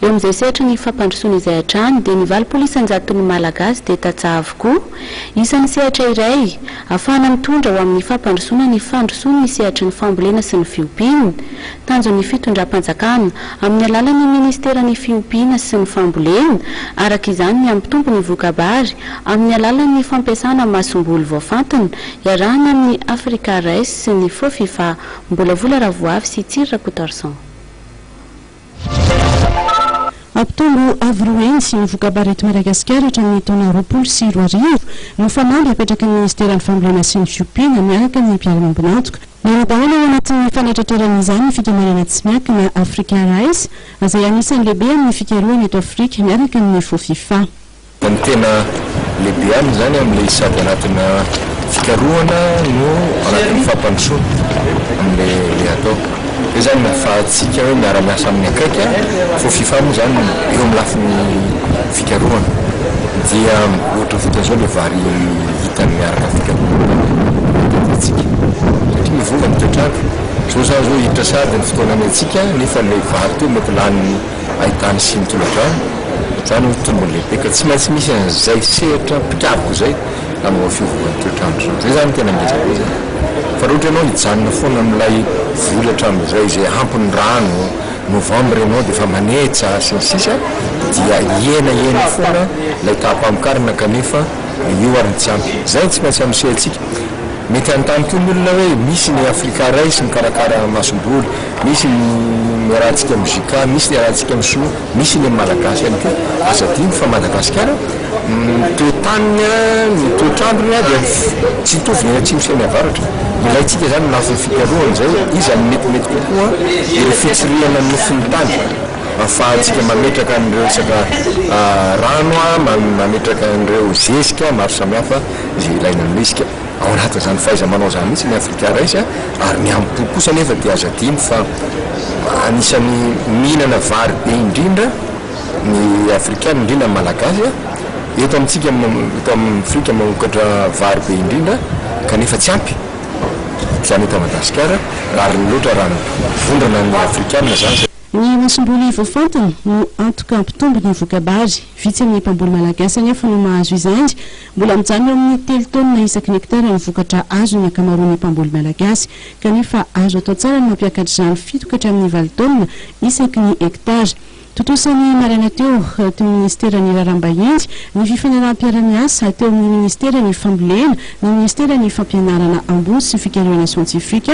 Eo amin'izay sehatra ny fampandrosoana izay hatrany dia ny valopolo isan-jaton'ny Malagasy dia tantsaha avokoa. Isan'ny sehatra iray, afahana mitondra ho amin'ny fampandrosoana ny fandrosoan' ny sehatry ny fambolena sy ny fiompiana. Tanjon'ny fitondram-panjakana, amin'ny alalan'ny Ministeran'ny Fiompiana sy ny Fambolena, araka izany ny hampitombo ny voka-bary amin'ny alalan'ny fampiasana masomboly voafantina, iarahana amin'ny Africa Rice sy ny Fofifa, Mbolavola Ravoavy sy Tsiry Rakotoarison. Hampitombo avo roa heny ny voka-baretin'i Madagasikara hatramin'ny taona roapolo sy roa arivo ny fanamby apetraky ny Minisiteran'ny Fambolena sy ny Fiompiana miaraka amin'ny mpiara-miombon'antoka. Miara-dahalo ao anatin'ny fanatratrarana izany ny fikambanana tsy miankina Africa Rice, izay anisan'ny lehibe amin'ny fikarohana eto Afrika, miaraka amin'ny Fofifa. Fa ny tena lehibe aminy izany amin'ilay sady anatina fikarohana no anatin'ny fampandrosoana amin'ilay atao hoe izany ahafahantsika hoe miara-miasa amin'ny akaiky an, fô fifa moa izany eo amin'ny lafiny fikarohana dia ohatra fotsiny izao ilay vary hitany miaraka amin'ny fikarohana izany dia tadiavintsika satria mivola ny toetr'andro, izao za zao hiditra sady ny fotoana ny antsika nefa ilay vary teo mety lany. ahitana siny tolodrano, izany hoe tombony lehibe ka tsy maintsy misy an'izay sehatra mpikaroka izay hanova fiovan'ny toetr'andro izany. Izay izany no tena ngeza be izany. Fa raha ohatra ianao hijanona foana amin'ilay voly hatramin'izay izay ampy ny rano, novembre ianao dia efa manetsa sy ny sisa dia hihena hena foana ilay taham-pamokarana kanefa io ary ny tsy ampy. Izay no tsy maintsy anosehitsika. Mety hanontany koa ny olona hoe misy ny Afrika iray sy mikarakara masomboly. Misy ny iarahantsika amin'ny JK, misy ny iarahantsika amin'ny sinoa, misy ny amin'ny malagasy ihany koa. Aza adino fa Madagasikara, ny toetaniny, ny toetr'androny dia tsy hitovy ny any atsimo sy any avaratra. Ilaintsika izany ho lafiny fikarohana izay iza no metimety kokoa ireo fitsirihana ny nofon'ny tany ahafahantsika mametraka an'ireo resaka rano, mametraka an'ireo zezika maro samihafa izay ilaina aminay isika. Ao anatin'izany fahaiza-manao izany mihitsy ny Afrika Rice ary ny amim-po kosa anefa dia aza adino fa anisan'ny mihinana vary be indrindra ny Afrikana, indrindra ny Malagasy. Eto amintsika eto amin'ny Afrika mamokatra vary be indrindra kanefa tsy ampy izany eto Madagasikara raha reny loatra raha ny vondrona ny Afrikana izany. Ny masomboly voafantina no antoka hampitombo ny voka-bary. Vitsy amin'ny mpamboly Malagasy anefa no mahazo izany. Mbola mijanona eo amin'ny telo taonina isaky ny hektara ny vokatra azon'ny ankamaroan'ny mpamboly malagasy, kanefa azo atao tsara ny mampiakatra izany fito ka hatramin'ny valo taonina isaky ny hektara. Tontosa ny maraina teo, teo amin'ny Minisiteran'ny Raharaham-bahiny, ny Fifanaraham-piara-miasa teo amin'ny Minisiteran'ny Fambolena, ny Minisiteran'ny Fampianarana ambony sy ny Fikarihana siantifika,